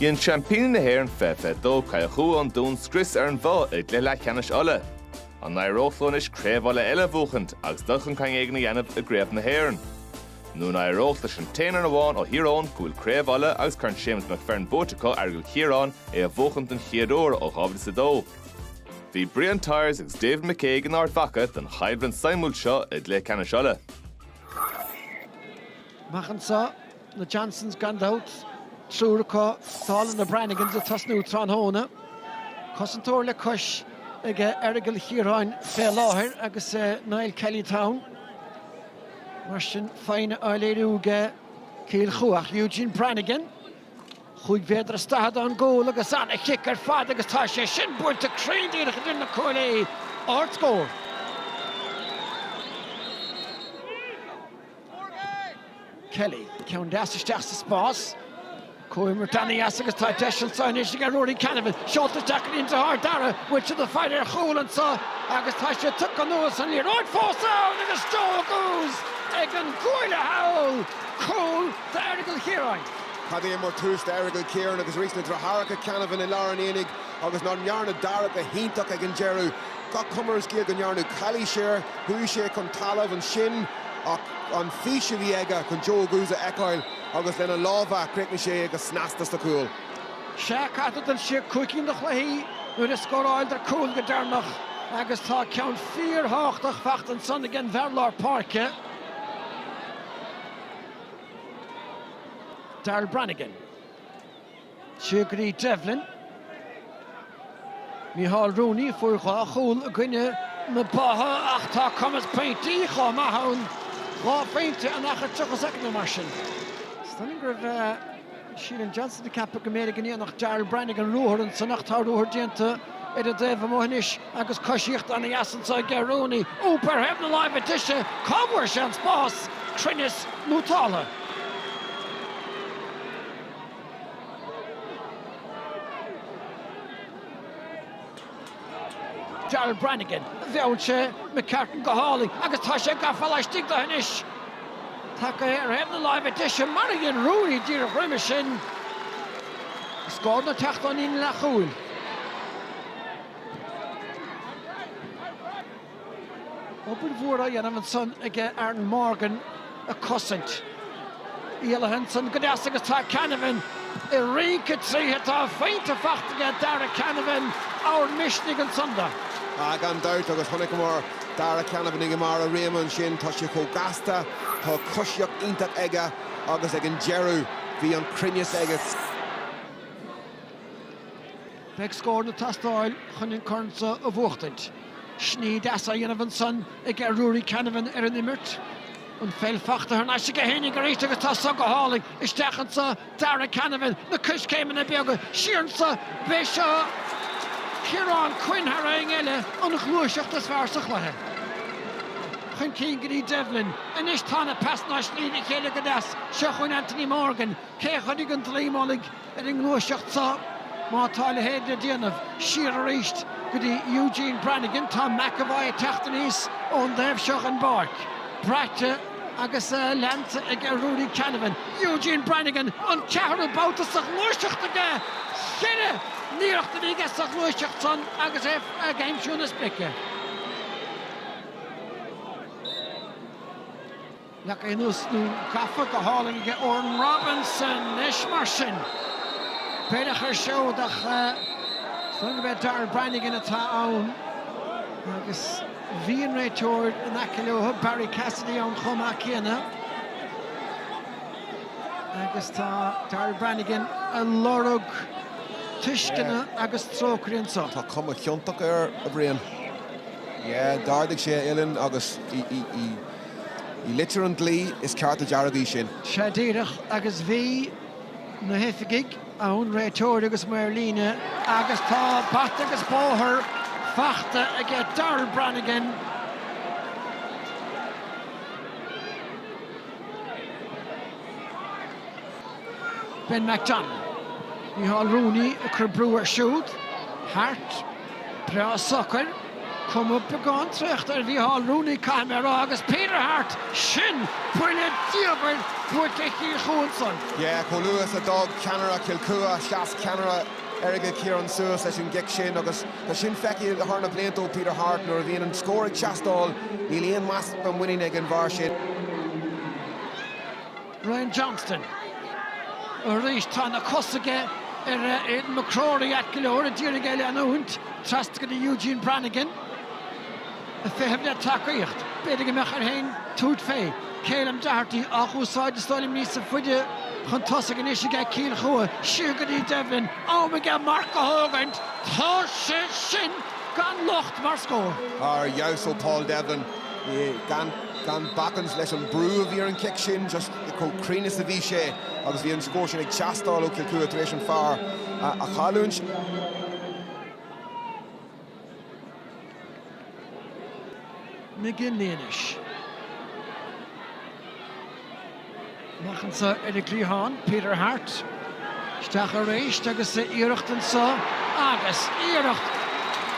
Dhein seaimpíní na hÉireann 2022 Cill Chua an Dún scrios ar an mBoth i gcluiche leathcheannais Uladh. An n-éireodh leo anois craobh Uladh eile a bhuachaint agus dul chun cinn éigin a dhéanamh i gcraobh na hÉireann? Nó an n-éireodh leis an t-aon fhoireann amháin ó Thír Eoghain go bhfuil Craobh Uladh agus Corn Séamus McFerran buaite acu, Aireagal Chiaráin, é a bhuachaint don chéad uair ó 2002? Bhí Brian Tyers agus David McCague in Ard Mhacha don chaibidil suimiúil seo i gcluiche ceannais Uladh. Amach anso, na Johnsons gan dabht, triúr acu. Dála na Branigans ag tosnú tráthnóna, cosantóir le cois ag Aireagal Chiaráin fé láthair agus Niall Kelly teann. Mar sin foighne á léiriú ag Cill Chua. Eugene Branigan. Chúig mhéadar is daichead ón gcúl agus an-chic ar fad agus tá sé sin buailte cruinn díreach idir na cuaillí. Ardscór. Kelly. Ceann deas isteach sa spás. Comhimirt an-deas agus tá deis anseo anois ag Rory Canavan. Seolta isteach go dtí an deartháir Dara. An bhfuil siad sa bhfaill ar chúl anseo agus tá sé tugtha anuas an liathróid fós ann agus Joe Oguz ag an gcuaille thall! Cúl d'Aireagal Chiaráin. Cad é mar thús d'Aireagal Chiaráin agus arís na deartháireacha Canavan i lár an aonaigh agus nach ndearna Dara go hiontach ag an deireadh. Gach cuma ar an scéal go ndearnadh calaois air chuaigh sé chun talamh ansin ach an fís a bhí aige chun Joe Oguz a fheiceáil agus lena lámha chríochnaigh sé é go snasta sa chúl. Sea, caite den séú cúigiú ina gcluichí nuair a scóráladar cúl go deireanach agus tá ceann fíor thábhachtach faighte ansan ag an bhfear lár páirce. Darryl Branagan, siar go dtí Devlin, Micheál Rooney a fuair dhá chúl i gcoinne na Boithe ach tá cumas pointí chomh maith ann, dhá phointe in achar 30 soicind nó mar sin. Is dóigh liom gurbh é. Ceilum Johnson do cheap go mb'fhéidir go ndéanfadh Darryl Branigan an ruathar ansan ach tá ruathar déanta ar an dtaobh amuigh anois agus coisíocht ana dheas anso ag Ger Rooney.Úp ar thaobh na láimhe deise! Cá bhfuair sé an spás? Cruinneas ón dtálaí? Darryl Branigan, mheall sé McCartan go hálainn agus tá sé gafa laistigh de anois. Tacaithe ar thaobh na láimhe deise, mar a dhein Rooney díreach roimhe sin, scóranna ag teacht ón líne leathchúil. Obair mhór á dhéanamh ansan aige Aaron Morgan a cosaint. Éalaithe ansan go deas agus tá Canavan ag rince tríothu. Tá an phointe fachta aige Darragh Canavan, ábhar misnigh ansan dó. Ah, gan dabht, agus chonaiceamar Darragh Canavan i mbarr a réime ansin. Tá sé chomh gasta, tá coisíocht iontach aige agus ag an deireadh bhí an cruinneas aige. Beidh scóranna ag teastáil chun an corn seo a bhuachtaint. Sní deas á dhéanamh ansan ag Ruairí Canavan ar an imirt. An pheil fachta thar n-ais aige féinig arís agus tá seo go hálainn. Isteach anso Darragh Canavan, na coiscéimeanna beaga, siar anso, b'é seo Ciarán Quinn thar éinne eile, an ghluaiseacht is fearr sa chluiche. Chun cinn go dtí Devlin. Anois tá na pasanna á sní le chéile go deas. Seo chugainn Anthony Morgan. Cé a chuirfidh an dlaoi mullaigh? ar an ngluaiseacht seo má tá a leithéid le déanamh. Siar arís go dtí Eugene Branagan, tá McEvoy ag teacht aníos ón dtaobh seo den bpáirc, braite agus leanta ag Ruairí Canavan. Eugene Branagan, an ceathrú babhta sa ghluaiseacht aige! Cheithre n-iarracht a bhí aige sa ghluaiseacht san agus é ag aimsiú na sprice. Nach é nós nó gafa go hálainn aige Odhrán Robinson leis mar sin. B'fhéidir chur siúd ach fan go mbeidh Darryl Branagan atá ann agus bhí an réiteoir in aice leo, Barry Cassidy ann chomh maith céanna agus tá Darryl Branagan a lorg tuisceana agus trócaire anseo. Tá cuma chiontach air, a Bhriain. Yeah, d'ardaigh sé a uillinn agus í, í, í. I litir an dlí, is cárta dearg í sin. Sea, díreach agus bhí na hoifigigh ann, réiteoir agus maor líne, agus tá bata agus bóthar fachta aige Darryl Branagan. Ben McDonnell. Micheál Rooney ag cur brú air siúd, thart. Breá socair, cuma beagán traochta ar Mhícheál Rooney caithfidh mé a rá agus Peter Harte, sin buille diamhair buailte ar Chill Chua ansan. Yeah, chomh luath is a d'fhág ceannaire Chill Chua, sheas ceannaire Aireagal Chiaráin suas leis an gcic sin agus tá sin feicthe thar na blianta ó Peter Harte, nuair a bhíonn an scór ag teastáil, níl aon easpa muiníne ag an bhfear sin. Ryan Johnston. Arís tá na cosa aige ar Aidan McCrory ait go leor, ag iarraidh é a leanúint trasna go dtí Eugene Brannigan, ag feitheamh le tacaíocht. B'fhéidir go mbeadh air féin tabhairt fé. Ceilum Doherty á úsáid is dóigh liom níos faide chun tosaigh anois aige Cill Chua. Siar go dtí Devlin. Am aige marc a thógaint. Tá sé sin gan locht mar scór. Ar fheabhas ó Paul Devlin. gan bacaint leis an brú a bhí ar an chic sin, just chomh cruinn is a bhí sé agus bhí an scór sin ag teastáil ó Chill Chua tar éis an fear a chailliúint. McGinley anois. Amach anso ar an gcliathán, Peter Harte isteach arís agus iarracht anso agus iarracht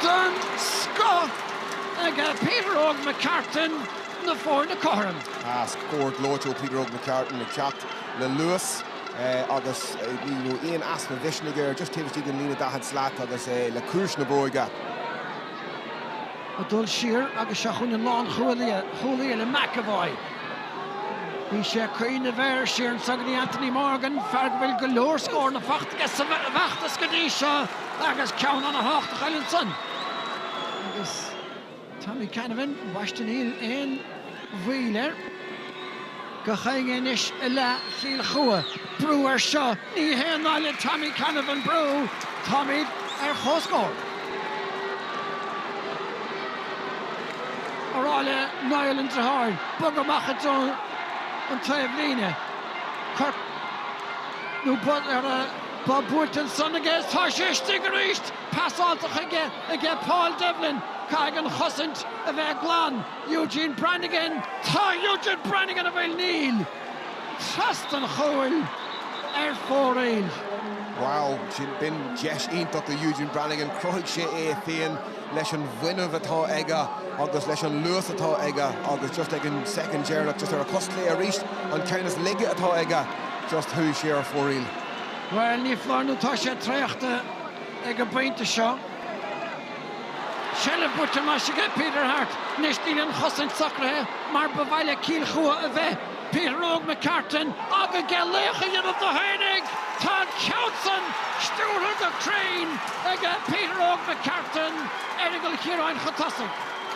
den scoth ag Peter Óg McCartan na foirne cothrom. Scór gleoite ó Peter Óg McCartan ag teacht le luas agus níl aon easpa mhisnigh air, just taobh istigh den líne daichead slat agus é le ciumhais na bróige. Ag dul siar agus seo chugainn an lánchúlaí leis McEvoy. Bhí sé ag cuimhneamh air siar anso go dtí Anthony Morgan, fear go bhfuil go leor scóranna faighte aige sa bhfeachtas go dtí seo agus ceann ana-thábhachtach i leith ansan. Agus Tommy Canavan, bhaist, níl aon. mhoill air. Go daingean anois i leath Chill Chua. Brú ar seo, ní haon nath le Tommy Canavan brú, táimid ar chomhscór. a rá le Niall an deartháir bogadh amach i dtreo an taobhlíne. Cor nó bob buailte ansan aige is tá sé istigh arís! Pasáilte chuige aige Paul Devlin, caithfidh an chosaint a bheith glan. Eugene Brannigan Tá Eugene Brannigan a bhfuil Níl trasna an chúil ar fóraoil. Wow, sin, b'in deis iontach do Eugene Brannigan. Chruthaigh sé é féin leis an bhfuinneamh atá aige agus leis an luas atá aige agus just ag an soicind dheireanach, just ar a chos chlé arís, an ceann is laige atá aige, just chuaigh sé ar fóraoil. Bhuel, ní foláir nó tá sé traochta ag an bpointe seo. Seilbh buaite anois aige Peter Harte. Anois níl an chosaint socraithe mar ba mhaith le Cill Chua a bheith. Peter Óg McCartan ag ag iarraidh laoch a dhéanamh de féinig! Tá an ceann san stiúrtha go cruinn aige Peter Óg McCartan, Aireagal Chiaráin chun tosaigh.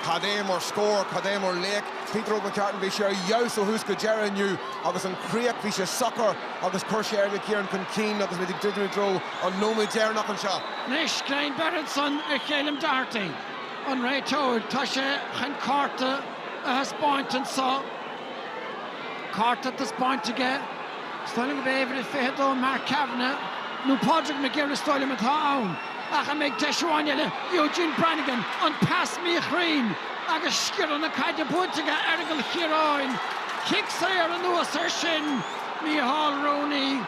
Cad é mar scór, cad é mar laoch Peter Óg McCartan. Bhí sé ar fheabhas ó thús go deireadh inniu agus an chríoch, bhí sé socair agus chuir sé Aireagal Chiaráin chun cinn agus muid ag druidim i dtreo an nóiméad deireanach anseo. Anois, greim beirthe ansan ar Cheilum Doherty, an réiteoir. Tá sé chun cárta a thaispeáint anseo. Cárta taispeánta aige. Is dóigh liom gurb é uimhir 22 Mark Kavanagh nó Pádraig McGirr is dóigh liom atá ann, ach an mbeidh deis amháin eile, Eugene Branagan, an pas míchruinn agus sciorradh na caide bainte aige, Aireagal Chiaráin, cic saor anuas air sin, Micheál Rooney.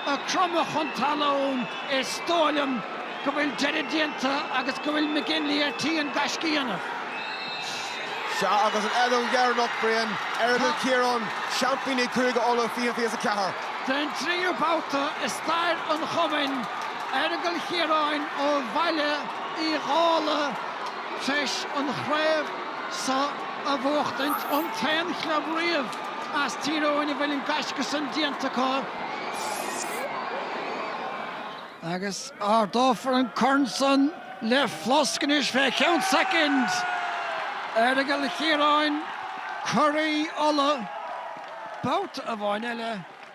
ag cromadh chun talún, is dóigh liom go bhfuil deireadh déanta agus go bhfuil McGinley ar tí an gaisce a dhéanamh. Sea, agus an fheadóg dheireanach, Brian, Aireagal Chiaráin, seaimpíní Chúige Uladh, 2024. Den tríú babhta i stair an chumainn, Aireagal Chiaráin ó Bhaile Uí Dhálaigh tar éis an chraobh seo a bhuachtaint, an t-aon chlub riamh. as Tír Eoghain a bhfuil an gaisce san déanta acu agus ardófar an corn san le flosc anois fé cheann soicind. Aireagal Chiaráin, Curaí Uladh, babhta amháin eile.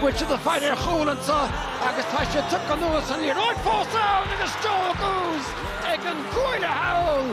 Bhuail siad an faill ar chúl anseo agus tá siad tugtha anuas an liathróid fós ann agus Joe Oguz ag an gcuaille thall!